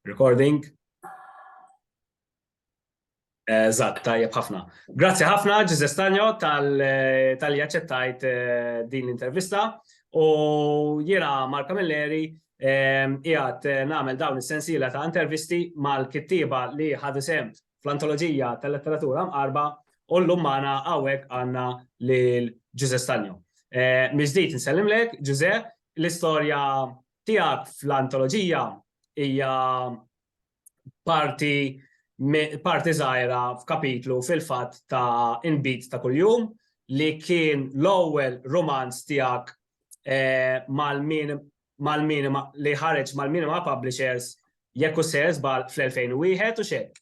Recording. Eżatt, tajjeb ħafna. Grazzi ħafna Ġiże Stanjo tal-li aċċettajt eh, din l-intervista u jiena Marka Milleri jgħat eh, eh, nagħmel dawn is-sensiela ta' intervisti mal-kittieba li ħadu sem fl-antoloġija tal-letteratura mqarba u l lummana magħna hawnhekk għandna lil Ġiże Stanjo. Miżdit nsellimlek, Ġiże, l-istorja tiegħek fl-antoloġija hija parti parti żgħira f'kapitlu fil-fatt ta' Inbid ta' Kuljum li kien l-ewwel rumanz tiegħek eh, mal-minima li ħareġ mal-minima publishers jekk u sejrs bal fl-2001 u xek.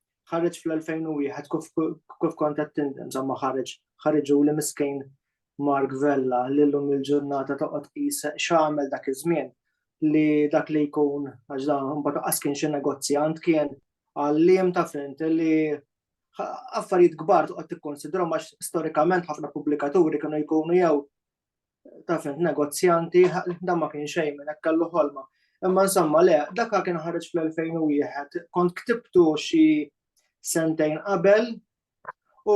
ħareġ fl-2001 kif kont qed tindenza ma ħareġ ħareġu li miskejn Mark Vella li llum il-ġurnata toqgħod qis x'għamel dak iż-żmien li dak li jkun għax dan mbagħad qas kien xi negozjant kien għalliem ta' fint li affarijiet kbar toqgħod tikkonsidraw għax storikament ħafna pubblikaturi kienu jkunu jew taf negozjanti, da ma kien xejn minn hekk kellu ħolma. Imma insomma le, dak kien ħareġ fl-2001, kont ktibtu xi sentejn qabel u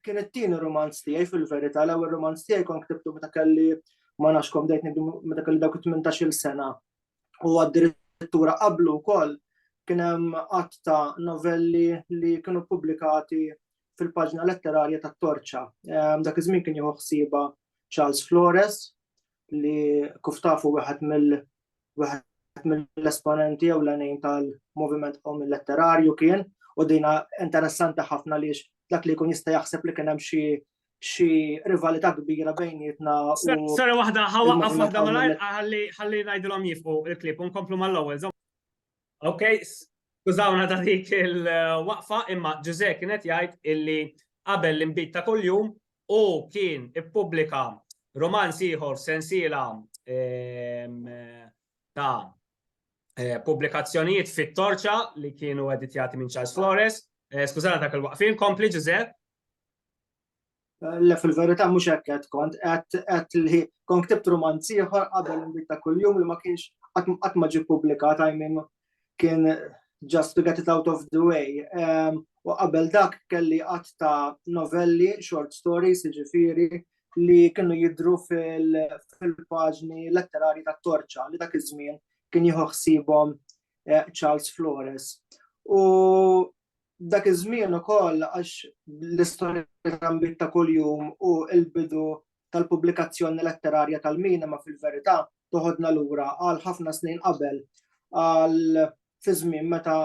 kien it-tieni romanz tiegħi fil-verità, l-ewwel romanz tiegħi kont ktibtu meta kelli ma nafx kom dejt meta kelli dawk 18-il sena. U addirittura qablu wkoll kien hemm qatt ta' novelli li kienu pubblikati fil-paġna letterarja ta' Torċa. Dak iż-żmien kien jieħu ħsieba Charles Flores li kif tafu wieħed mill wieħed mill-esponenti jew l-għanin tal-moviment qom letterarju kien u dina interessanti ħafna li dak li jkun jista' jaħseb li kien hemm xi xi rivalità kbira bejnietna. Sara waħda ħawaqqaf waħda malajr ħalli ngħidilhom jifqu il-klip u nkomplu mal-ewwel Ok, skużawna ta' dik il-waqfa imma Ġuże kienet jgħid illi qabel l-inbid ta' kuljum u kien ippubblika romanz ieħor sensiela ehm, ta' eh, pubblikazzjonijiet fit-torċa li kienu editjati minn Charles Flores. Eh, skużana ta' kull waqfin, kompli Ġuże. Le fil-verità mhux hekk qed kont qed li kon ktibt rumanz ieħor qabel inbid ta' kuljum li ma kienx qatt ma ġie ppubblikat I mean kien just to get it out of the way. U qabel dak kelli qatt ta' novelli, short stories, jiġifieri li kienu jidru fil-paġni letterari ta' Torċa li dak iż-żmien kien jieħu ħsiebhom Charles Flores. U Dak iż-żmien ukoll għax l-istorja trambiet ta' kuljum u l-bidu tal-pubblikazzjoni letterarja tal-minima fil-verità toħodna lura għal ħafna snin qabel, għal fiż-żmien meta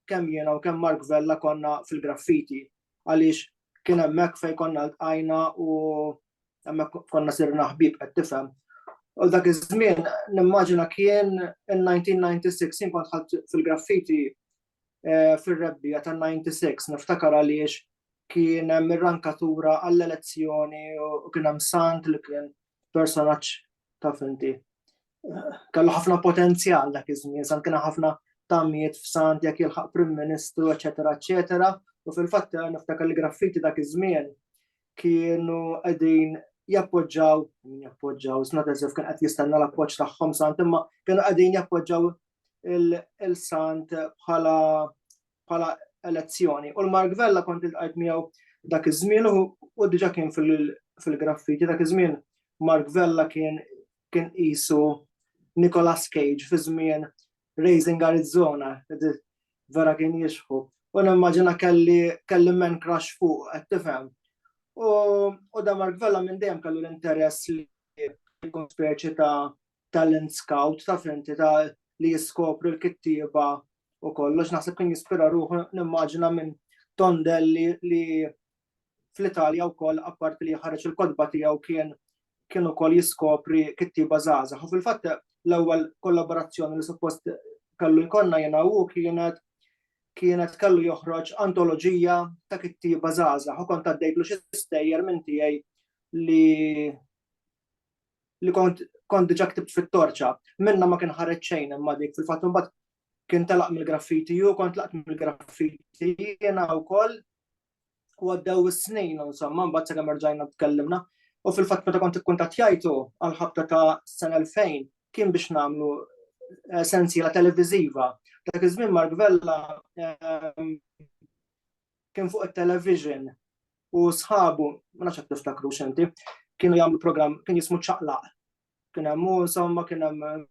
kemm jiena u kemm Mark Vella konna fil-graffiti, għaliex kien hemmhekk fejn konna ltqajna u hemmhekk konna sirna ħbieb qed tifhem. U dak iż-żmien nimmaġina kien in-1996 jien kont ħadt fil-graffiti eh, fir-rebbija tan-96 niftakar għaliex kien hemm ir-rankatura għall-elezzjoni u kien hemm sant li kien personaġġ ta' finti. Kellu ħafna potenzjal dak iż-żmien, sant kien ħafna tamijiet f'sant jekk jilħaq Prim Ministru, eċetera, eċetera. U fil-fatt eh, niftakar li graffiti dak iż-żmien kienu qegħdin jappoġġaw, jappoġġaw, snat eżif kien qed jistenna l-appoġġ tagħhom sant imma kienu qegħdin jappoġġaw il-sant bħala bħala elezzjoni. U l-Mark Vella kont il-qajt miegħu dak iż-żmien u diġà kien fil-graffiti dak iż-żmien Mark Vella kien kien qisu Nicolas Cage fi żmien Raising Arizona, vera kien jixħu. U nimmaġina kelli kelli men crash fuq, qed tifhem. U da Mark Vella minn dejjem kellu l-interess li jkun speċi ta' talent scout ta' fenti ta' li jiskopri l-kittieba u kollox naħseb kien jispira ruħu nimmaġina minn Tondelli li fl-Italja wkoll apparti li ħareġ il-kodba tiegħu kien kien ukoll jiskopri kittieba żgħażagħ. U fil-fatt l-ewwel kollaborazzjoni li suppost kellu jkollna jiena u kienet kienet kellu joħroġ antoloġija ta' kittieba żgħażagħ u kont għaddejtlu xi stejjer minn tiegħi li li kont kont diġà ktibt fit-torċa, minnha ma kien ħareġ xejn imma dik fil-fatt imbagħad kien telaq mill-graffiti u kont laqt mill-graffiti jiena wkoll u għaddew is-snin insomma mbagħad sakemm erġajna tkellimna u fil-fatt meta kont ikkuntattjajtu għal ħabta ta' sena 2000 kien biex nagħmlu eh, sensiela televiżiva. Dak iż-żmien Mark Vella ehm, kien fuq it-television u sħabu, ma nafx tiftakru xenti, kienu jagħmlu program, kien jismu ċaqlaq. Kien hemm insomma kien hemm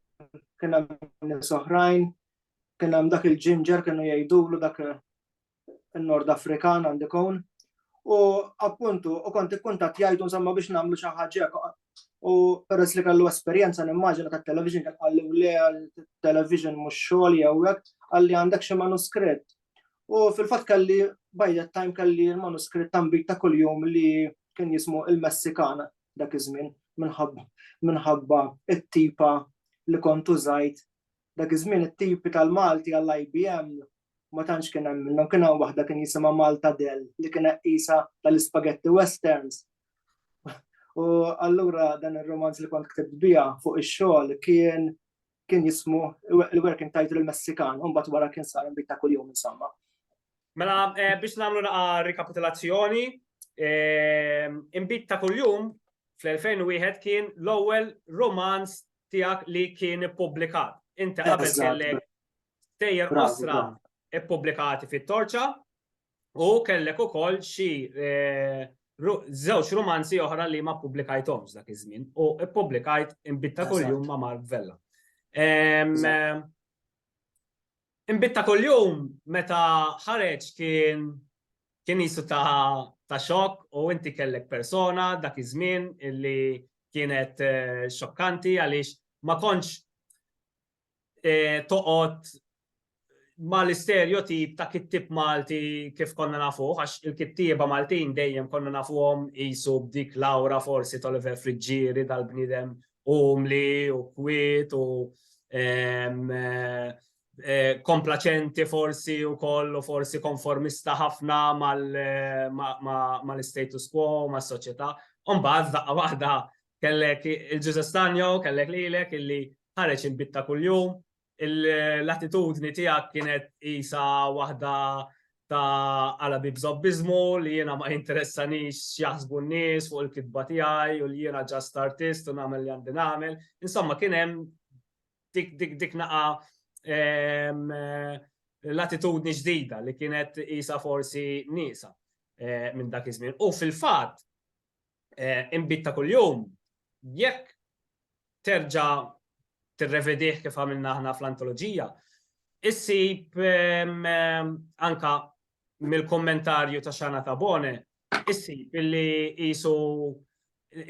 kien hemm nies oħrajn, kien hemm dak il-ġinġer kienu jgħidulu dak in-Nord Afrikan għandi kun. U appuntu, u kont ikkuntat jgħidu insomma biex nagħmlu xi ħaġa u peress li kellu esperjenza nimmaġina tat-television kien qalli le television mhux xogħol jew hekk, qalli għandek xi manuskritt U fil-fatt kelli by that time kelli l-manuskritt tambit ta' kuljum li kien jismu il-Messikan dak iż-żmien minħabba minħabba it-tipa li kont użajt dak iż-żmien it-tipi tal-Malti għall-IBM ma tantx kien hemm minnhom kien hawn waħda kien jisimha Malta Del li kien qisha tal-ispagetti westerns. U allura dan ir-romanz li kont ktibt biha fuq ix-xogħol kien kien jismu il-working title il-Messikan, un bat wara kien sar il-bit ta' kuljum insomma. Mela, eh, biex namlu naqa rikapitulazzjoni, eh, imbit ta' kuljum fl-2001 kien l-ewwel romanz tiegħek li kien ippubblikat. Inti qabel kellek tejjer osra ippubblikati fit-torċa, u kellek ukoll xi żewġ rumanzi oħra li ma ppubblikajthomx dak iż-żmien u ppubblikajt Inbitta kuljum ma' Mark Vella. Inbitta kuljum meta ħareġ kien kien qisu ta' xokk u inti kellek persona dak iż-żmien illi kienet xokkanti għaliex ma kontx toqgħod ma l-isterjotip ta' kittib Malti kif konna nafuh, għax il-kittieba Maltin dejjem konna nafuhom qisu b'dik l-awra forsi t'Oliver Friggieri dal-bniedem umli u kwiet u komplaċenti forsi wkoll u forsi konformista ħafna mal-istatus quo, mas-soċjetà. Imbagħad f'daqqa waħda Kellek il-Ġuża Stanjo, kellek lilek illi ħareġ il-bitta kuljum, l-attitudni tiegħek kienet isa waħda ta' għala bibżobbizmu li jiena ma jinteressanix x'jaħsbu n-nies fuq il-kitba tiegħi u li jiena ġast artist u nagħmel li għandi nagħmel. Insomma kien hemm dik dik dik naqa ehm, l-attitudni ġdida li kienet isa forsi nisa eh, minn dak iż-żmien. U fil-fatt inbid ta' kuljum, jekk terġa' tirrevedih kif għamilna aħna fl-antoloġija, issib anka mill-kummentarju ta' Xana Tabone, issib li qisu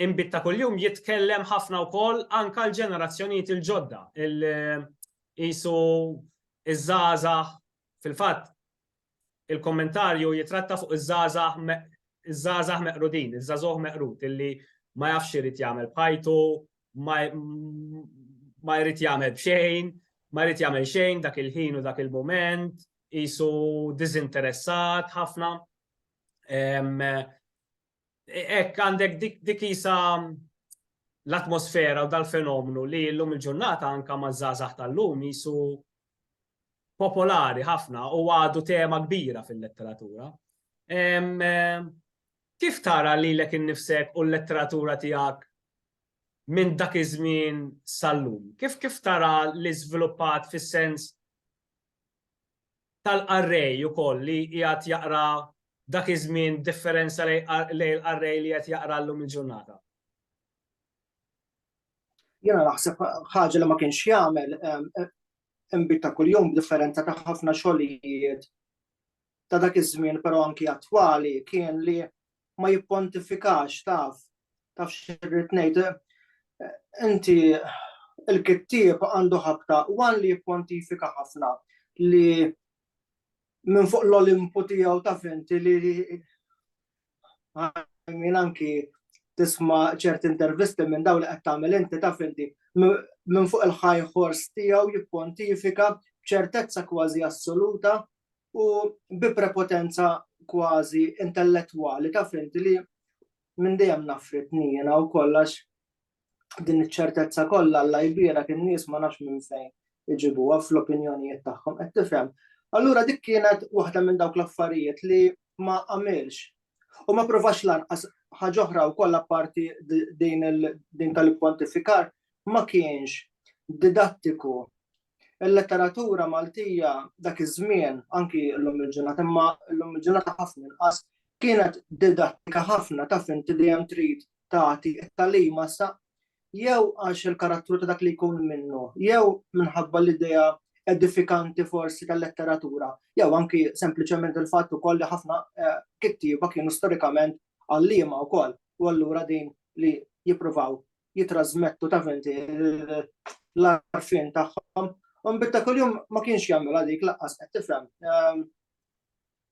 inbid ta' kuljum jitkellem ħafna wkoll anka l-ġenerazzjonijiet il-ġodda. Qisu ż-żgħażagħ fil-fatt il-kommentarju jitratta fuq iż-żgħażagħ meqrudin, iż-żagħżugħ meqrud illi ma jafx x'irid jagħmel b'ħajtu, ma jrid jagħmel b'xejn, ma jrid jagħmel xejn dak il-ħin u dak il-mument, qisu diżinteressat ħafna. Ek għandek dik isa l-atmosfera u dal-fenomenu li l-lum il-ġurnata anka ma' zazax tal-lum jisu popolari ħafna u għadu tema kbira fil-letteratura. Kif tara li l-ek innifsek u l-letteratura tijak minn dak iż-żmien sal-lum? Kif kif tara li żviluppat fis-sens tal-qarrej ukoll li qiegħed jaqra dak iż-żmien b'differenza lejn il-qarrej li qed jaqra llum il-ġurnata? Jiena naħseb ħaġa li ma kienx jagħmel inbid ta' kuljum b'differenza ta' ħafna xogħlijiet ta' dak iż-żmien però anki attwali kien li ma jippontifikax taf, taf xirrid ngħid, inti il-kittieb għandu ħabta wan li jippontifika ħafna li minn fuq l-Olimpu tiegħu taf inti li minn anki tisma ċerti intervisti minn daw li qed tagħmel inti taf inti minn fuq il-high horse tiegħu jippontifika b'ċertezza kważi assoluta u bi prepotenza kważi intellettwali ta' finti li minn dejjem nafrit nijena u kollax din iċ-ċertezza kollha alla jbira kien nies ma nafx minn fejn iġibuha fl-opinjonijiet tagħhom qed tifhem. Allura dik kienet waħda minn dawk l-affarijiet li ma għamilx u ma provax lanqas ħaġa oħra wkoll apparti din tal-pontifikar ma kienx didattiku Il-letteratura Maltija dak iż-żmien, anki llum il-ġurnata, imma llum il-ġurnata ħafna inqas, kienet didattika ħafna, taf inti dejjem trid tagħti t-tagħlima sa jew għax il-karattru ta' dak li jkun minnu, jew minħabba l-idea edifikanti forsi tal-letteratura, jew anki sempliċement il-fatt ukoll li ħafna kittieba kienu storikament għalliema wkoll u allura din li jippruvaw jitrasmettu ta' finti l-arfin tagħhom. U mbitta kuljum ma kienx jagħmilha dik laqqas qed tifhem. Ehm,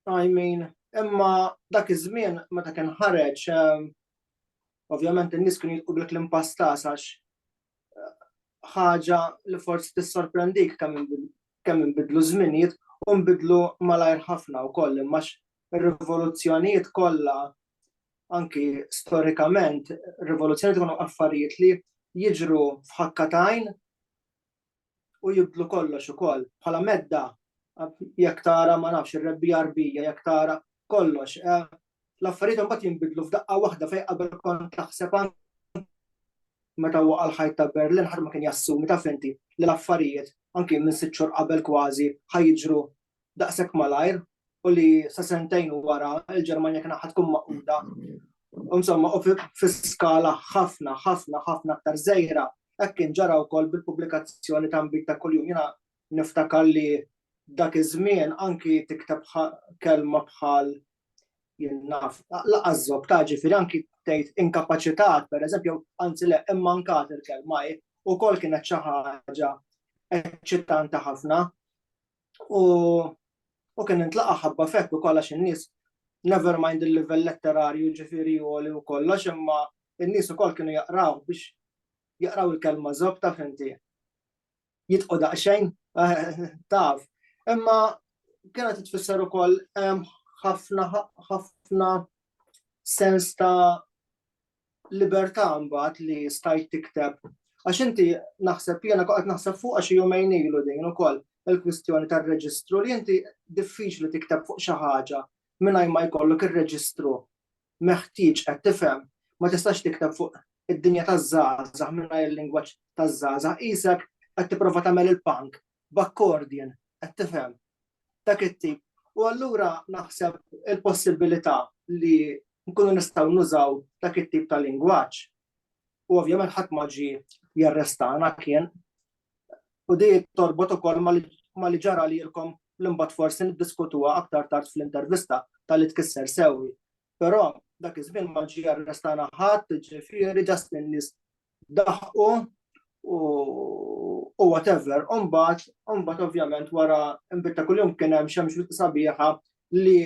I mean, imma dak iż-żmien meta kien ħareġ ehm, ovvjament in-nies kienu jitqu bil klim pastas għax eh, ħaġa li forsi tissorprendik kemm inbidlu żminijiet u nbidlu malajr ħafna wkoll imma ir-rivoluzzjonijiet kollha, anki storikament, rivoluzzjonijiet ikunu affarijiet li jiġru f'ħakka ta' għajn u jibdlu kollox ukoll. Bħala medda, jekk tara ma nafx ir-rebbija arbija, jekk tara kollox, eh, l-affarijiet imbagħad jinbidlu f'daqqa waħda fejn qabel kont taħseb meta waqa' l-ħajt ta' Berlin ħadd ma kien jassumi taf inti li l-affarijiet anki minn sitt xhur qabel kważi ħajġru daqshekk malajr u li sa sentejn wara il-Ġermanja kien ħad tkun maquda. Insomma, u fi skala ħafna, ħafna, ħafna aktar żejra, hekk kien ġara wkoll bil-pubblikazzjoni ta' nbid ta' kuljum. Jiena niftakar li dak iż-żmien anki tikteb kelma bħal jinnaf, laqas żob ta' ġifieri anki tgħid inkapaċitat, pereżempju, anzi le, immankat il-kelma u kol kienet xi ħaġa eċċitanti ħafna. u u kien intlaqa ħabba fekk u kollax in-nies never mind il-livell letterarju ġifieri u li u kollox imma in-nies ukoll kienu jaqraw biex jaqraw il-kelma zob taf inti. Jitqu daqsxejn taf. Imma kienet tfisser ukoll ħafna ħafna sens ta' libertà mbagħad li stajt tikteb. Għax inti naħseb jiena qed naħseb fuq għax jumejn ilu din ukoll il-kwistjoni tar-reġistru li inti diffiċli tikteb fuq xi ħaġa mingħajr ma jkollok ir-reġistru meħtieġ qed tifhem ma tistax tikteb fuq id-dinja taż-żgħażagħ mingħajr il-lingwaġġ taż-żgħażagħ qisek qed tipprova tagħmel il-punk b'akkordjen, qed tifhem, dak it-tip. U allura naħseb il-possibilità li nkunu nistgħu nużaw dak it-tip ta' lingwaġġ. U ovvjament ħadd ma ġi jarrestana kien. U di torbot ukoll ma li ġara lilkom l-imbagħad forsi niddiskutuha aktar tard fl-intervista tal-li tkisser sewwi. Però dak iż-żmien ma ġie arrestana ħadd, ġifieri just in-nies daħqu u whatever. U mbagħad, u mbagħad ovvjament wara nbid ta' kuljum kien hemm xemx vitt sabiħa li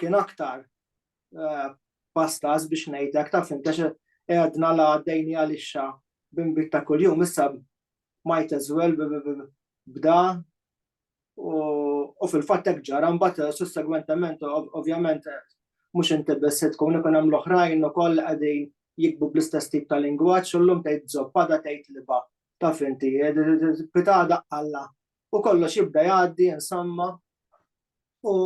kien aktar eh, pastas biex ngħidlek ta' fim għax għedna la għaddejni għalixxa bimbit ta' kuljum issa might as well bda U fil-fatt hekk ġara mbagħad sussegwentement ovvjament mhux inti biss se tkun ikun hemm l-oħrajn ukoll qegħdin jikbu bl-istess tip ta' lingwaġġ u llum tgħid żoppa da tgħid liba taf inti pitada alla u kollox jibda jgħaddi insomma u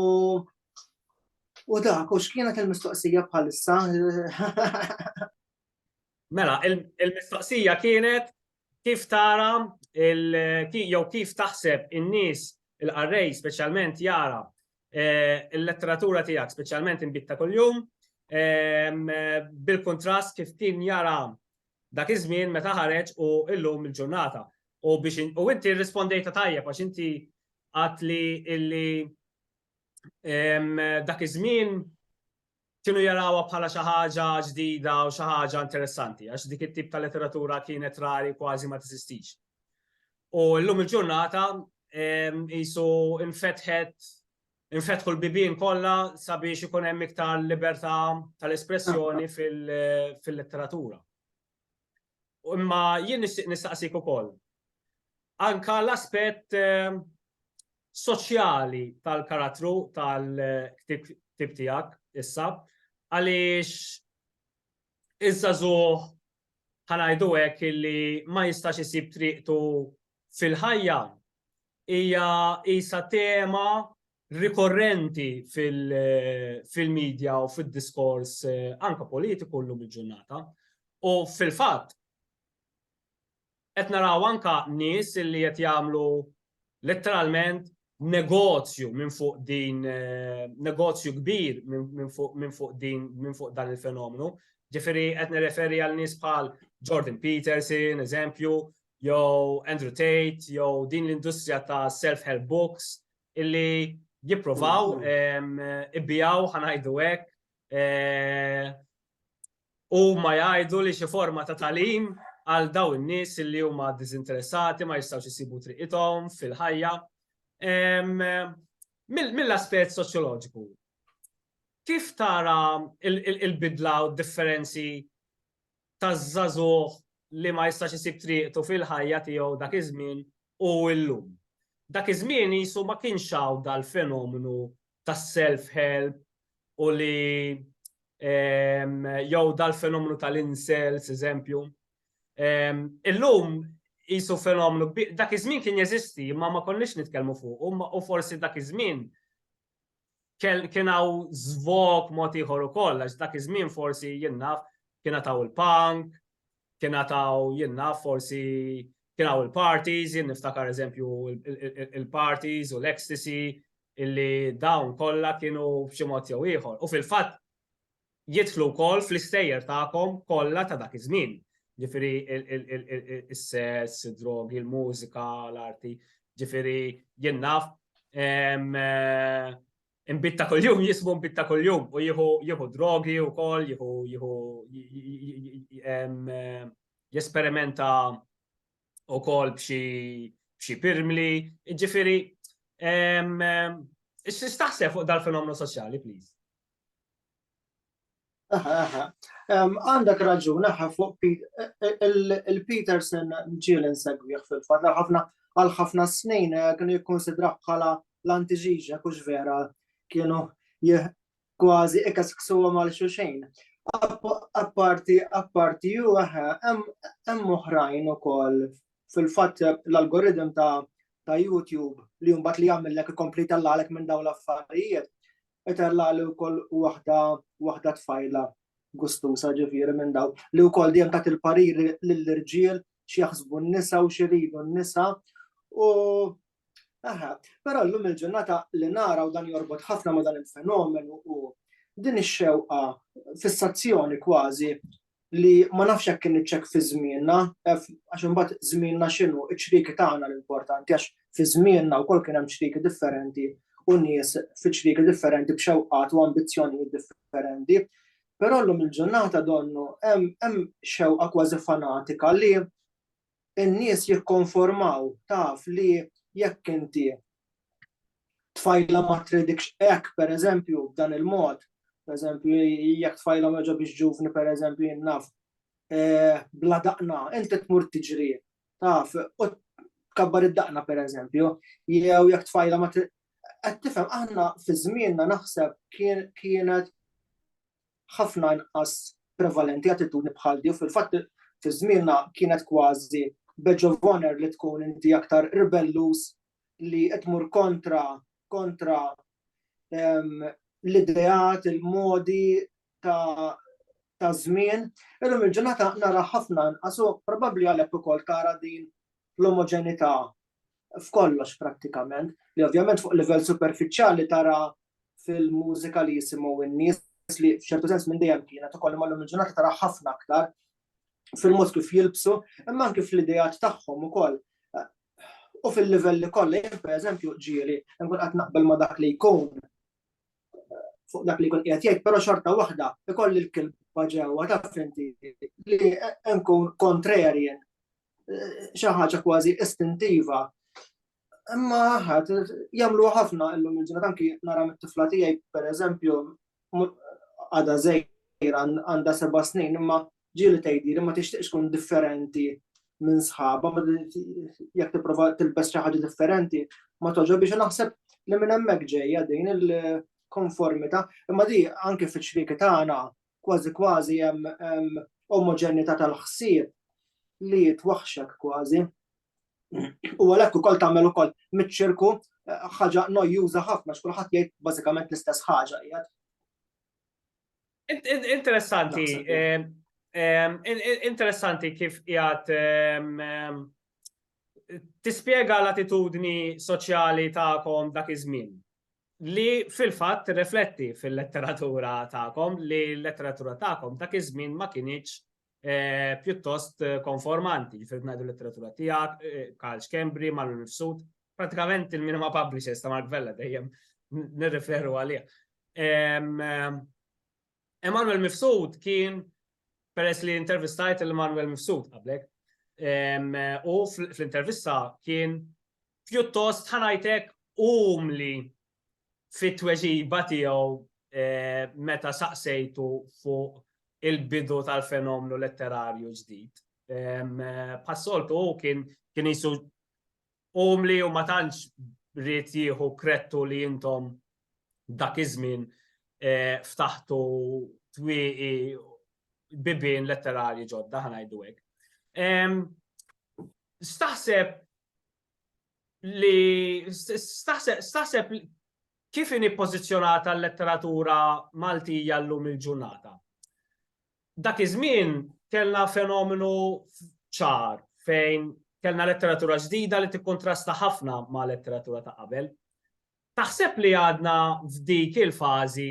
u dak u x'kienet il-mistoqsija bħalissa Mela, il-mistoqsija kienet Kif tara jew kif taħseb in-nies, il-qarrej speċjalment, jara l-letteratura tiegħek, speċjalment Inbid ta' Kuljum, bil-kuntrast kif kien jara dak iż-żmien meta ħareġ u llum il-ġurnata? U biex u inti rrispondejtha tajjeb għax inti għedt li dak iż-żmien kienu jarawha bħala xi ħaġa ġdida u xi ħaġa interessanti, għax dik it-tip ta' letteratura kienet rari kważi ma tiżistix. U llum il-ġurnata jisu infetħet infetħu l-bibien kollha sabiex ikun hemm iktar libertà tal-espressjoni fil-letteratura. Imma jien nistaqsik ukoll. Anka l-aspett soċjali tal-karattru tal-ktieb tiegħek issa għaliex iż-żagħżugħ ħanajdu hekk illi ma jistax isib triqtu fil-ħajja hija isa tema rikorrenti fil-medja u fil-diskors eh, anka politiku llum il-ġurnata. U fil-fatt, Qed naraw anke nies li qed jagħmlu letteralment negozju minn fuq din, negozju kbir minn fuq din, minn fuq dan il-fenomenu. Ġifieri qed nirreferi għal nies bħal Jordan Peterson, eżempju, jew Andrew Tate, jew din l-industrija ta' self-help books illi jippruvaw ibiegħu, ħa ngħidu hekk, Huma jgħidu li xi forma ta' tagħlim għal dawn in-nies li huma diżinteressati ma jistgħux isibu triqithom fil-ħajja. Mill-aspett soċjoloġiku, kif tara il-bidla u d-differenzi taż-żagħżugħ li ma jistax isib triqtu fil-ħajja tiegħu dak iż-żmien u llum? Dak iż-żmien qisu ma kienx hawn dal-fenomenu ta' self help u li jew dal-fenomenu tal-incels, eżempju. Illum jisu fenomenu, dak iż-żmien kien jeżisti, ma ma konniex nitkellmu fuq, u forsi dak iż-żmien kien hawn żvok mod ieħor ukoll, għax dak iż-żmien forsi jinnaf kien taw il-punk, kien għataw jien naf forsi kien hawn il-parties, jien niftakar eżempju il-parties u l-ecstasy illi dawn kollha kienu b'xi mod jew ieħor. U fil-fatt jidħlu wkoll fl-istejjer tagħkom kollha ta' dak iż-żmien. Ġifieri is-sess, id-drogi, il-mużika, l-arti, ġifieri jien naf imbid ta' kuljum, jisbu imbid ta' kuljum u jieħu drogi u kol, jieħu jesperimenta u kol bxie pirmli, ġifiri, istaxse fuq dal-fenomenu soċjali, please. Għandek raġun, aha, fuq il-Peterson ġiel insegwih fil-fat, ħafna għal ħafna snin eh, kienu jikkonsidraħ bħala l-antiġiġa kux vera kienu kważi ikas ksuwa mal xuxejn. Apparti, apparti ju eħe, hemm oħrajn ukoll fil-fatt l-algoritm ta' ta' YouTube li jumbat li jagħmillek ikompli tallalek minn dawn l-affarijiet. qed għalla li wkoll waħda waħda tfajla gustusa ġifieri minn daw li wkoll dejjem tat il-parir lill-irġiel x'jaħsbu n-nisa u x'iridu n-nisa u Aha, però llum il-ġurnata li nara u dan jorbot ħafna ma dan il-fenomenu u din ix-xewqa fissazzjoni kważi li ma nafx jekk kien iċ-ċekk fi żmienna, għax imbagħad żmienna x'inhu, iċ-ċrieki tagħna l-importanti għax fi żmienna wkoll kien hemm ċrieki differenti u nies fi ċrieki differenti b'xewqat u ambizzjonijiet differenti. Però llum il-ġurnata donnu hemm xewqa kważi fanatika li in-nies jikkonformaw taf li jekk inti tfajlha ma tridikx hekk pereżempju b'dan il-mod, pereżempju jekk tfajlhom joġa biex ġuvni pereżempju jien naf eh, bla daqna, inti tmur tiġri taf u tkabbar id-daqna pereżempju, jew jekk tfajla ma qed tifhem aħna fi żmienna naħseb kienet ħafna inqas prevalenti attitudni bħal di u fil-fatt fi żmienna kienet kważi badge of honour li tkun inti aktar ribelluż li qed tmur kontra kontra ehm, l-ideat, il-modi ta' ta' żmien, illum il-ġurnata nara ħafna nqasu probabbli għalhekk ukoll tara din l-omoġenità f'kollox prattikament, li ovvjament fuq livell superfiċjali tara fil-mużika li jisimgħu n-nies li f'ċertu sens minn dejjem kienet ukoll imma l-lum il-ġurnata tara ħafna aktar fil-mod kif jilbsu, imma anke fl-idejat tagħhom ukoll. U fil-livelli kollha, jien pereżempju ġieli, nkun qed naqbel ma' dak li jkun fuq dak li jkun qiegħed jgħid, però xorta waħda ikolli l-kilba ġewwa ta' finti li nkun kontrarien xi ħaġa kważi istintiva. Imma ħadd jagħmlu ħafna illum il-ġurnata anki nara mit-tifla tiegħi pereżempju għadha żejra għandha seba' snin imma ġieli tgħidi li ma tixtieqx tkun differenti minn sħaba, jekk tipprova tilbes xi ħaġa differenti, ma toġob biex naħseb li minn hemmhekk ġejja din il-konformità, imma di anke fiċ-ċrieki tagħna kważi kważi hemm omoġenità tal-ħsieb li twaħxek kważi. U għalhekk ukoll tagħmel ukoll miċ-ċirku eh, ħaġa nojjuża ħafna x'kulħadd jgħid bażikament l-istess ħaġa qiegħed. Interessanti. Eh, eh, interessanti kif qiegħed tispjega l-attitudni soċjali tagħkom dak iż-żmien. li fil-fatt tirrifletti fil-letteratura tagħkom li l-letteratura tagħkom dak iż-żmien ma kinitx eh, pjuttost eh, konformanti, ġifier ngħidu letteratura tiegħek, eh, Karl Schembri, Mallu Nifsud, pratikament il-minima publishers ta' Mark Vella dejjem nirreferu għalih. Emanuel Mifsud kien peress li intervistajt il-Emanuel Mifsud qablek, u fl-intervista kien pjuttost ħa ngħid hekk umli fit-tweġiba tiegħu meta saqsejtu fuq il-bidu tal-fenomenu letterarju ġdid. Bħas-soltu hu kien qisu umli u ma tantx ried jieħu kredtu li intom dak iż-żmien ftaħtu twieqi bibien letterarji ġodda ħa ngħidu hekk. X'taħseb li staħseb kif inhi pożizzjonata l-letteratura Maltija llum il-ġurnata. Dak iż-żmien kellna fenomenu ċar fejn kellna letteratura ġdida li tikkontrasta ħafna ma' letteratura ta' qabel. Taħseb li għadna f'dik il-fażi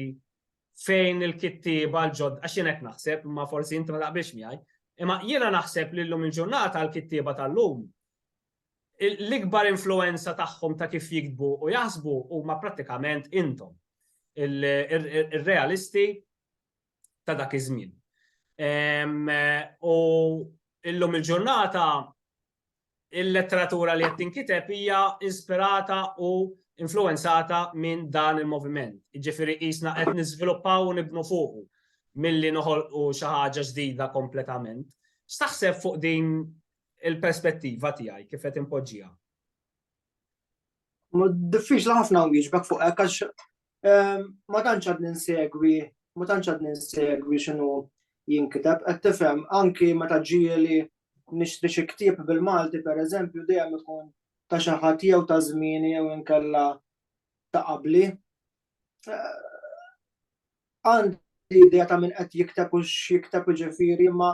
fejn il-kittieba l-ġodda, għax jien hekk naħseb, imma forsi inti ma taqbilx miegħi, imma jiena naħseb li llum il-ġurnata l-kittieba tal-lum l-ikbar influenza tagħhom ta' kif jiktbu u jaħsbu huma prattikament intom ir-realisti ta' dak iż-żmien. U illum il-ġurnata il-letteratura li qed tinkiteb hija inspirata u influwenzata minn dan il-moviment. Jiġifieri qisna qed niżviluppaw u nibnu fuqu milli noħolqu xi ħaġa ġdida kompletament. X'taħseb fuq din il-perspettiva tiegħi kif qed inpoġġiha? Diffiċli ħafna nwieġbek fuq hekk għax Ma tantx għad ninsegwi, ma tantx għad ninsegwi x'inhu jinkiteb, qed tifhem anki meta ġieli nixtri xi ktieb bil-Malti pereżempju dejjem ikun ta' xi ħadd jew ta' żmieni jew inkella ta' qabli. Għandi idea ta' min qed jikteb u x'jikteb jiġifieri imma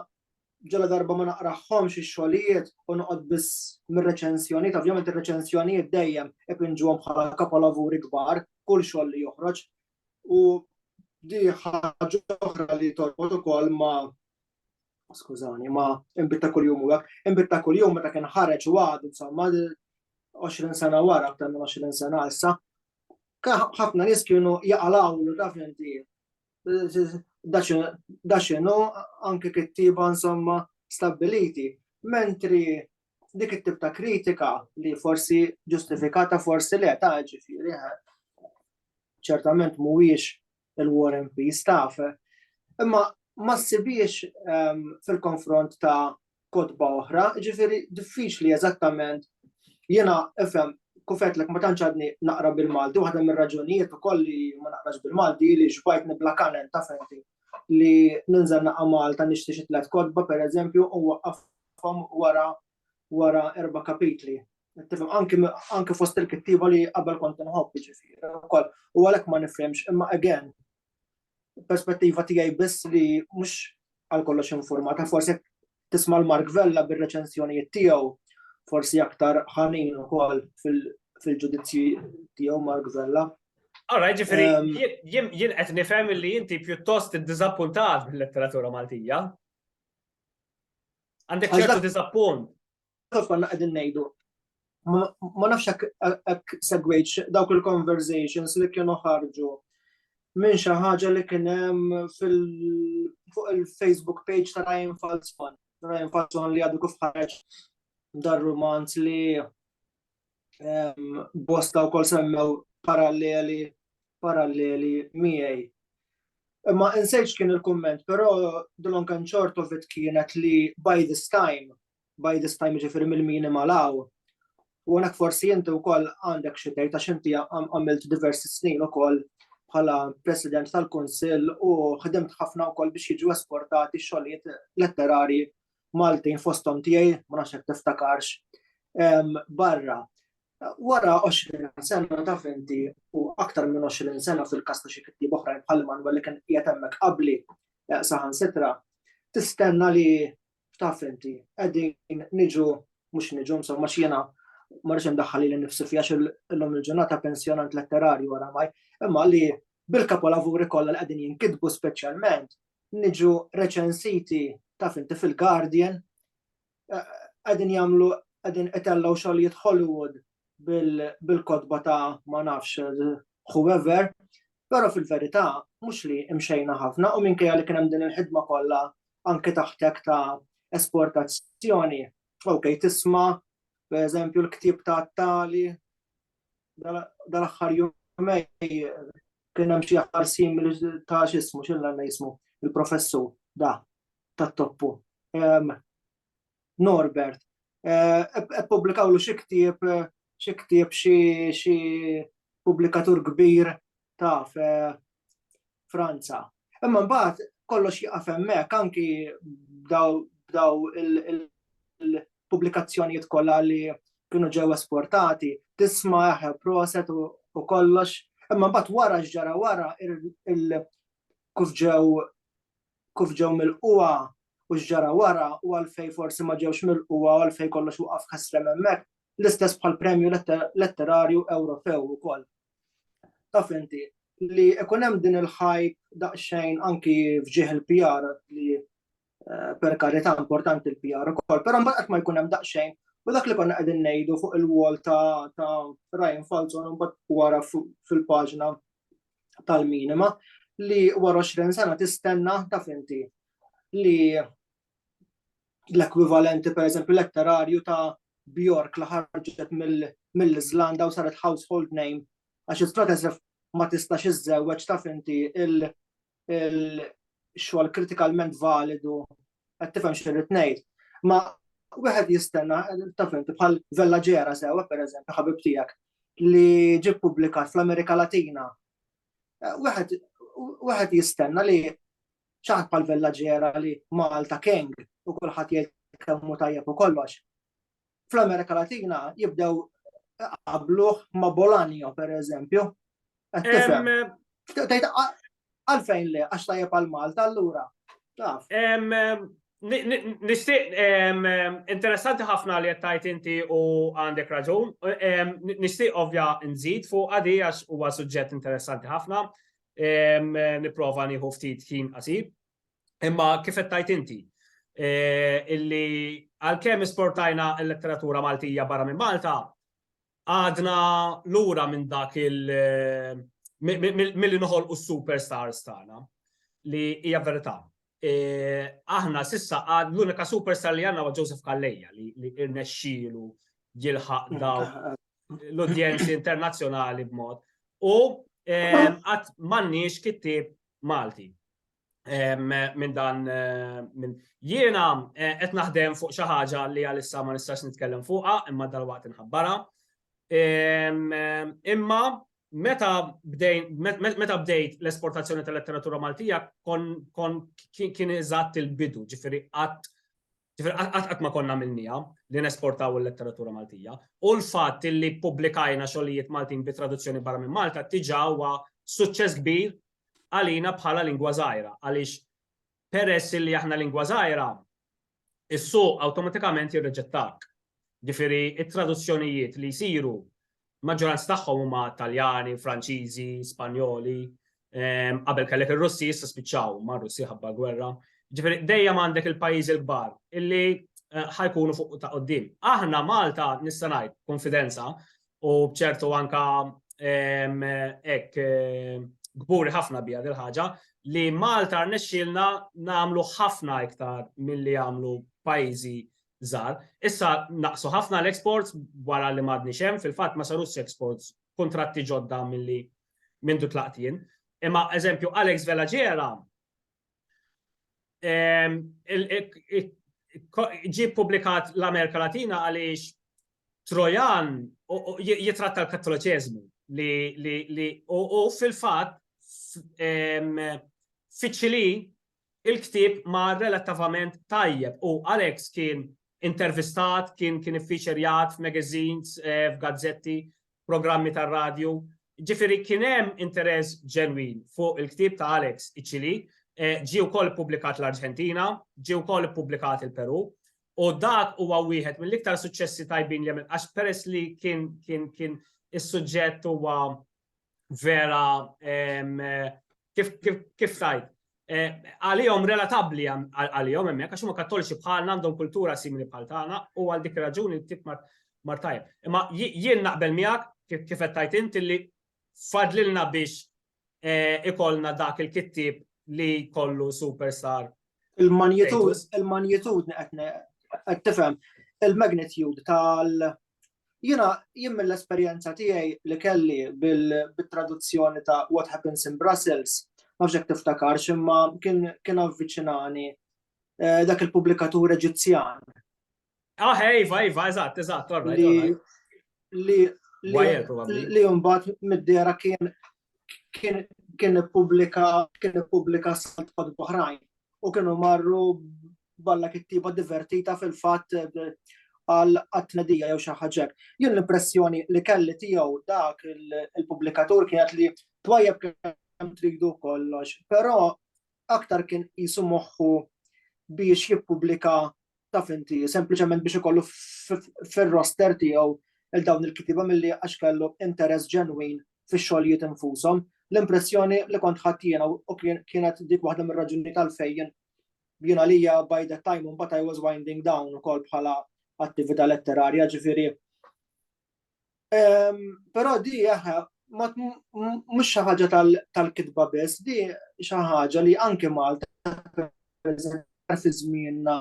ġaladarba ma naqrahomx ix-xogħlijiet u noqgħod biss mir-reċensjonijiet, ovvjament ir-reċensjonijiet dejjem ipinġuhom bħala kapolavuri kbar, kull xogħol li joħroġ. U di ħaġa oħra li torbot ukoll ma skużani, ma imbitta kuljum u hekk, imbitta kuljum meta kien ħareġ u għad, insomma, 20 sena wara, aktar minn 20 sena issa, ħafna nies kienu jaqalawlu taf inti da xinu anke kittiba insomma stabiliti. Mentri dik it-tip ta' kritika li forsi ġustifikata forsi le ta' ġifiri, eh, ċertament mhuwiex il-war and peace taf. Imma ma ssibiex ehm, fil-konfront ta' kotba oħra, ġifieri diffiċli eżattament jiena ifhem kif għedtlek ma tantx għadni naqra bil-Malti, waħda mir-raġunijiet ukoll li ma naqrax bil-Malti li xbajt nibla kanen ta' fenti li ninżel naqa' Malta nixti xi tliet kotba pereżempju u waqqafhom wara wara erba' kapitli. Tifhem anki anki fost il-kittieba li qabel kont inħobb jiġifieri wkoll u għalhekk ma nifhimx imma again perspettiva tiegħi biss li mhux għal kollox informata, forsi tisma' l-Mark Vella bir-reċenzjonijiet tiegħu, forsi aktar ħanin ukoll fil-ġudizzji tiegħu Mark Vella. Ora, ġifiri, jien qed nifhem li inti pjuttost iddiżappuntat bil-letteratura Maltija. Għandek ċertu diżappunt. kif konna qegħdin ngħidu. Ma nafx hekk segwejx dawk il-conversations li kienu ħarġu minn xi ħaġa li kien hemm fuq il-Facebook page ta' Ryan Falzon. Ryan Falzon li għadu kif ħarġ dar romanz li bosta u kol semmew paralleli paralleli miegħi. Imma insejċ kien il-komment, però Dylan Kanċortovit kienet li by this time by this time ġifiri mill-minima law. U għanak forsi jinti u koll għandek xitej ta' xinti għamilt diversi snin u koll bħala president tal-Kunsil u ħdimt ħafna u koll biex jiġu esportati xogħlijiet letterari Maltin fostom tiegħi ma nafx hekk tiftakarx barra. Wara 20 sena ta' finti u aktar minn 20 sena fil-kasta xi kitti oħrajn bħal Manuel li kien qiegħed hemmhekk qabli eh, saħan sitra, tistenna li taf inti, qegħdin niġu mhux niġu insomma x'jiena ma rridx indaħħal li nifsi fiha illum il-ġurnata pensjonant letterarju oramaj, imma li bil-kapolavuri kollha li qegħdin jinkitbu speċjalment niġu reċensiti taf inti fil-Guardian eh, qegħdin jagħmlu qegħdin itellgħu xogħlijiet Hollywood bil-kodba ta' ma nafx whoever, però fil-verità mhux li imxejna ħafna u minkejja li kien hemm din il-ħidma kollha anke taħt hekk ta' esportazzjoni, ok, tisma' pereżempju l-ktieb ta' tali dal-aħħar jumej kien hemm xi aħħar sim ta' x'ismu x'illa jismu il-professur da tat-toppu. Norbert. Ippubblikaw lu xi ktieb, xi ktieb xi pubblikatur kbir taf Franza. Imma mbagħad kollox jaqaf hemmhekk anki b'daw il-pubblikazzjonijiet kollha li kienu ġew esportati, tisma' eħe proset u kollox, imma mbagħad wara x'ġara wara kif ġew kif ġew milqugħa u x'ġara wara u għalfejn forsi ma ġewx milqugħa u għalfejn kollox waqaf ħesrem hemmhekk, l-istess bħall-Premju Letterarju Ewropew ukoll. Taf inti, li ikun hemm din il-hype daqsxejn anki f'ġieħ il-PR li eh, per karità importanti l-PR ukoll, però mbagħad qatt ma jkun hemm daqsxejn u dak li konna qegħdin ngħidu fuq il-wall ta' Ryan Falzon mbagħad wara fil-paġna tal-minima li wara 20 sena tistenna taf inti li l-ekwivalenti per eżempju letterarju ta' Bjork li ħarġet mill-Iżlanda u saret household name għax il-Stratesef ma tistax iżżewweġ taf inti il-xogħol kritikalment validu qed tifhem x'irrid ngħid. Ma wieħed jistenna taf inti bħal Vella Ġera sewwa pereżempju ħabib tiegħek li ġib pubblikat fl-Amerika Latina. Eh, wieħed wieħed jistenna li ċaħt bħal Vella Ġera li Malta King u kulħadd jgħid kemm tajjeb u kollox. fl-Amerika Latina jibdew qabluh ma' Bolanio, per eżempju. Għalfejn le, għax tajjeb għal Malta, allura. Nishtiq, interessanti ħafna li jattajt inti u għandek raġun. Nishtiq ovvja nżid fuq għadi għax huwa suġġett interessanti ħafna. Niprofa nieħu ftit ħin qasib. Imma kif qed tgħid inti, eh, illi għalkemm isportajna l-letteratura Maltija barra minn Malta, għadna lura minn dak il- eh, mill-li noħol u superstars tagħna li hija verità. Eh, aħna sissa għad l-unika superstar li għanna wa Joseph Kalleja li irnexxielu jilħaq mm. daw l-udjenzi internazzjonali b'mod. U għat mannix kittib Malti. minn dan minn jiena qed naħdem fuq xi ħaġa li għalissa ma nistax nitkellem fuqha imma dalwaqt inħabbarha. Imma meta bdejn meta bdejt l-esportazzjoni tal-letteratura Maltija kon kon kien eżatt il-bidu, ġifieri qatt ġifieri qatt qatt ma konna minnija li nesportaw il-letteratura Maltija. U l-fatt li ppubblikajna xogħlijiet Maltin bi traduzzjoni barra minn Malta diġà huwa suċċess kbir għalina bħala lingwa żgħira għaliex peress illi aħna lingwa żgħira is-suq awtomatikament jirriġettak. Ġifieri t-traduzzjonijiet li jsiru maġġoranza tagħhom huma Taljani, Franċiżi, Spanjoli, ehm, qabel kellek ir-Russi issa spiċċaw ma' Russi ħabba gwerra. Ġifieri dejjem għandek il-pajjiżi l-kbar illi eh, ħajkunu fuq ta' qoddim. Aħna Malta nista' ngħid konfidenza u bċertu anka hekk kburi ħafna bija dil-ħaġa li Malta rnexxielna nagħmlu ħafna iktar milli għamlu pajjiżi żgħar. Issa naqsu ħafna l-exports wara li m'għadni xem, fil-fatt ma sarux exports kontratti ġodda milli mindu tlaqtien. Imma eżempju Alex Velaġera Ġi publikat l-Amerika Latina għaliex Trojan jitratta l-Kattoliċeżmu li u fil-fatt fiċili il-ktieb ma relattivament tajjeb u Alex kien intervistat, kien kien iffiċerjat f'magazines, f'gazzetti programmi tar-radju. Ġifieri kien hemm interess ġenwin fuq il-ktieb ta' Alex Icili, ġie wkoll ippubblikat l-Arġentina, ġie wkoll ippubblikat il-Perù, u dak huwa wieħed mill-iktar suċċessi tajbin li għamel għax peress li kien kien kien is-suġġett huwa vera kif kif kif tajt eh, għalihom relatabbli għalihom hemmhekk għax huma kattoliċi bħalna għandhom kultura simili bħal tagħna u għal dik raġuni tip mar tajjeb. Imma jien naqbel miegħek kif qed tajt int li fadlilna biex eh, ikollna dak il-kittib li kollu superstar. Il-magnitud, il-magnitud qed tifhem il-magnitude tal Jiena jien mill-esperjenza tiegħi li kelli bil-traduzzjoni ta' What Happens in Brussels, ma fxek tiftakar ximma kien avviċinani eh, dak il-publikatur Eġizzjan. Ah, eh, iva, iva, eżatt, eżatt, Li li li mbagħad mid-dera kien kien ippubblika kien ippubblika sant kod oħrajn u kienu marru balla kittiba divertita fil-fatt eh, għal għatnedija jew xi ħaġa. Jien l-impressjoni li kelli tiegħu dak il-pubblikatur kienet li twajjeb kemm tridu kollox, però aktar kien jisu moħħu biex jippubblika taf inti, sempliċement biex ikollu fir-roster tiegħu il dawn il-kitiba milli għax kellu interess ġenwin fix-xogħlijiet infushom. L-impressjoni li kont ħadd jiena u kienet dik waħda mir-raġuni tal-fejn jiena lija by the time un I was winding down ukoll bħala attività letterarja ġifieri Però di aħna mhux xi ħaġa tal-kitba biss, di xi ħaġa li anke Malta fi żmienna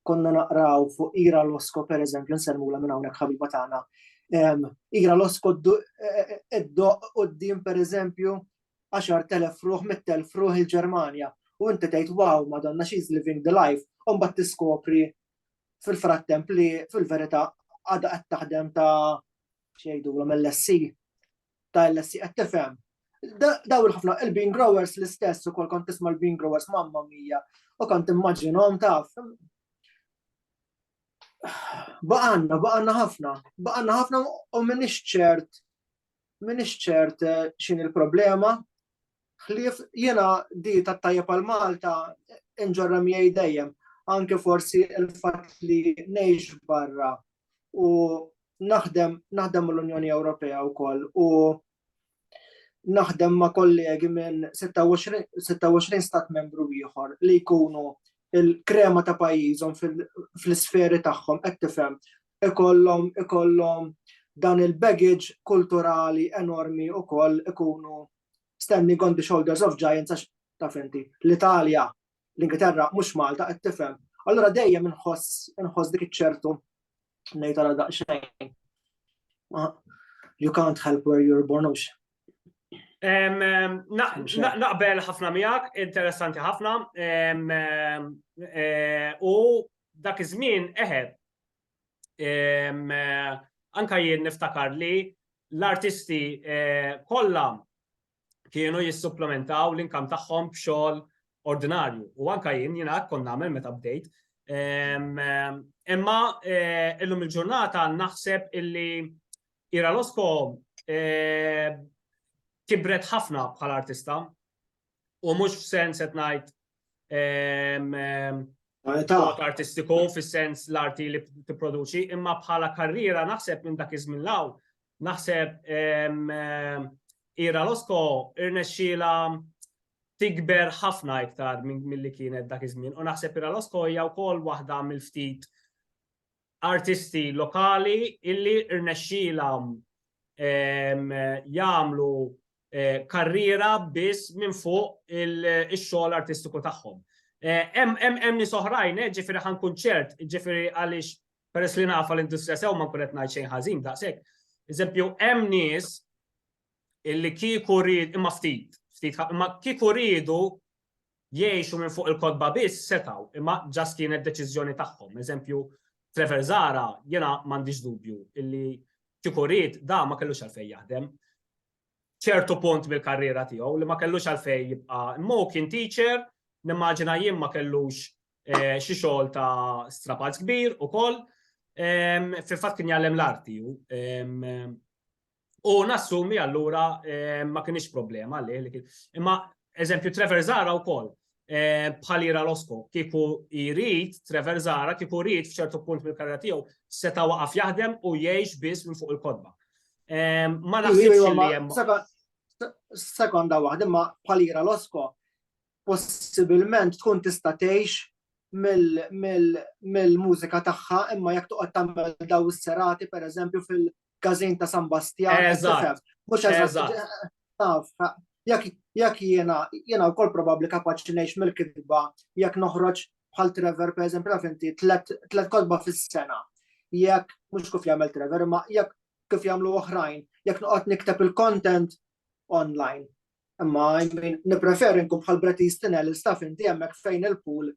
konna naqraw fuq Ira Losko per eżempju nsellmula minn hawnhekk ħabiba tagħna. Ira Losko d-doq qudiem per eżempju 10,000 fruħ, 100,000 fruħ il-Ġermanja. U inti tgħid wow, madonna she's living the life, u mbagħad tiskopri fil-frattemp li fil-verità għadha qed taħdem ta' xejdu l-LSC ta' LSC qed tifhem. Daw il-ħafna il-bean growers l-istess u kol kont tisma' l-bean growers mamma mija u kont immaġinhom taf. Baqanna, baqanna ħafna, baqanna ħafna u minix ċert minix ċert eh, xin il-problema ħlief jiena di tat-tajjeb għal Malta inġorra miegħi dejjem anke forsi l-fatt li ngħix barra u naħdem naħdem l-Unjoni Ewropea wkoll u naħdem ma' kollegi minn 26 stat membru ieħor li jkunu il-krema ta' pajjiżhom fl-isferi tagħhom qed tifhem ikollhom ikollhom dan il-baggage kulturali enormi wkoll ikunu standing on the shoulders of giants għax taf inti l-Italja, l-Ingilterra mhux Malta qed tifhem. Allura dejjem inħoss inħoss dik iċ-ċertu ngħid għal daqsxejn. You can't help where you're born ux. Naqbel ħafna miegħek, interessanti ħafna. Eh, u dak iż-żmien eħe, anka jien niftakar li l-artisti kollha kienu jissupplementaw l-inkam tagħhom b'xogħol ordinarju. U anka jien jiena hekk kont nagħmel meta bdejt. Imma illum il-ġurnata naħseb illi Ira Losko kibret ħafna bħal artista u mhux f'sens qed ngħid Art artistiku fis-sens l-arti li tipproduċi, imma bħala karriera naħseb minn dak iż-żmien law, naħseb Ira Losko irnexxiela tikber ħafna iktar milli kienet dak iż-żmien u naħseb Ira Losko hija wkoll waħda mill-ftit artisti lokali illi rnexxielhom jagħmlu karriera biss minn fuq ix-xogħol artistiku tagħhom. Hemm nies oħrajn, ġifieri ħa nkun ċert, ġifieri għaliex peress li nafa l-industrija sew ma nkun qed ngħid xejn ħażin daqshekk. Eżempju, hemm nies illi kieku rrid imma ftit, ftit imma kieku rridu jgħixu minn fuq il-kotba biss setgħu imma just kienet deċiżjoni tagħhom. Eżempju Trevor Zahra jiena m'għandix dubju illi kieku ried da ma kellux għalfejn jaħdem ċertu punt mill-karriera tiegħu li ma kellux għalfejn jibqa' imma kien teacher nimmaġina jien ma kellux eh, xi xogħol ta' strapazz kbir ukoll fil-fatt kien jgħallem l-arti U nassumi allura eh, ma kienx problema li imma eżempju Trevor Zara wkoll eh, bħalira Losko kieku jrid Trevor Zara kieku jrid f'ċertu punt mill-karriera tiegħu seta' waqaf jaħdem u jgħix biss minn fuq il-kodba. Eh, ma naħsibx li hemm. Sekonda waħda imma bħalira Losko possibilment tkun tista' tgħix mill-mużika tagħha imma jekk toqgħod tagħmel daw is-serati pereżempju fil- każin ta' San Bastjan. Eżatt. Mhux eżatt. Taf, jekk jekk jiena jiena wkoll probabbli kapaċi ngħix mill-kitba jekk noħroġ bħal Trevor pereżempju naf inti tlet kotba fis-sena. Jekk mhux kif jagħmel Trevor, imma jekk kif jagħmlu oħrajn, jekk noqgħod nikteb il-content online. Imma nippreferi nkun bħal Bret Easton Ellis staff inti hemmhekk fejn il-pool.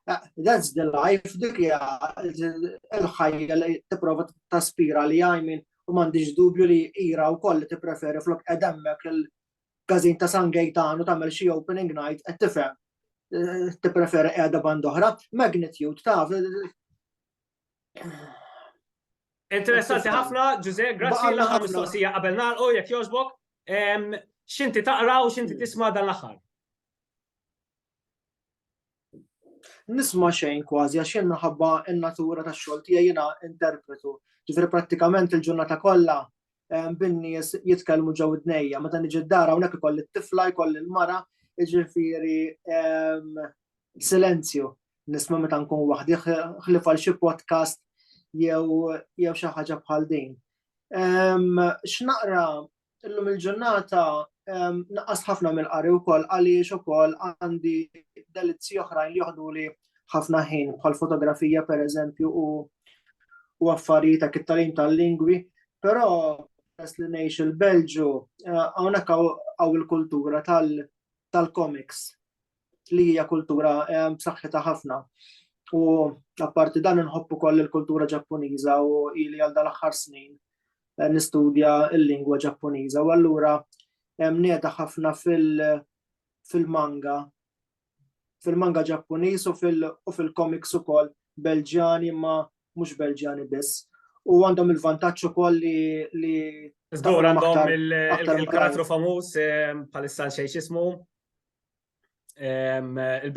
Eh, that's the life, dik hija l-ħajja li tipprova taspira li għajmin u m'għandix dubju li ira wkoll li tippreferi flok qed hemmhekk il-każin ta' San Gaetano tagħmel xi opening night qed tifhem eh, tippreferi qiegħda band oħra. Magnitude taf Interessanti ħafna, Ġuże, grazzi l-aħħar mistoqsija qabel nagħlqu jekk jogħġbok. X'inti taqra u x'inti tisma' dan l-aħħar? Nisma' xejn kważi għax jien minħabba n-natura tax-xogħol tiegħi jiena interpretu. Ġifieri prattikament il-ġurnata kollha bin-nies jitkellmu ġew id-dnejja, meta niġi d-dar hawnhekk ikolli t-tifla, jkolli l-mara, jiġifieri Silenzju, nisma' meta nkun waħdi ħlief għal xi podcast jew xi ħaġa bħal din. X'naqra illum il-ġurnata naqas ħafna mill-qari wkoll għaliex ukoll għandi delizzi oħrajn li joħdu li ħafna ħin bħal fotografija per eżempju u u affarijiet ta' kittalim tal-lingwi, però peress li ngħix il-Belġu eh, hawnhekk għaw il-kultura tal-comics. li hija kultura b'saħħitha ħafna. U apparti dan inħobb ukoll il-kultura Ġappuniża u ili għal dal-aħħar snin eh, nistudja l-lingwa Ġappuniża u allura nieda ħafna fil-manga fil-manga Ġappuniż u fil-komiks ukoll Belġjani ma mhux Belġjani biss. U għandhom il-vantaġġ ukoll li li Żgur għandhom il-karattru famuż bħalissa xejn x'ismu. Il-Belġjani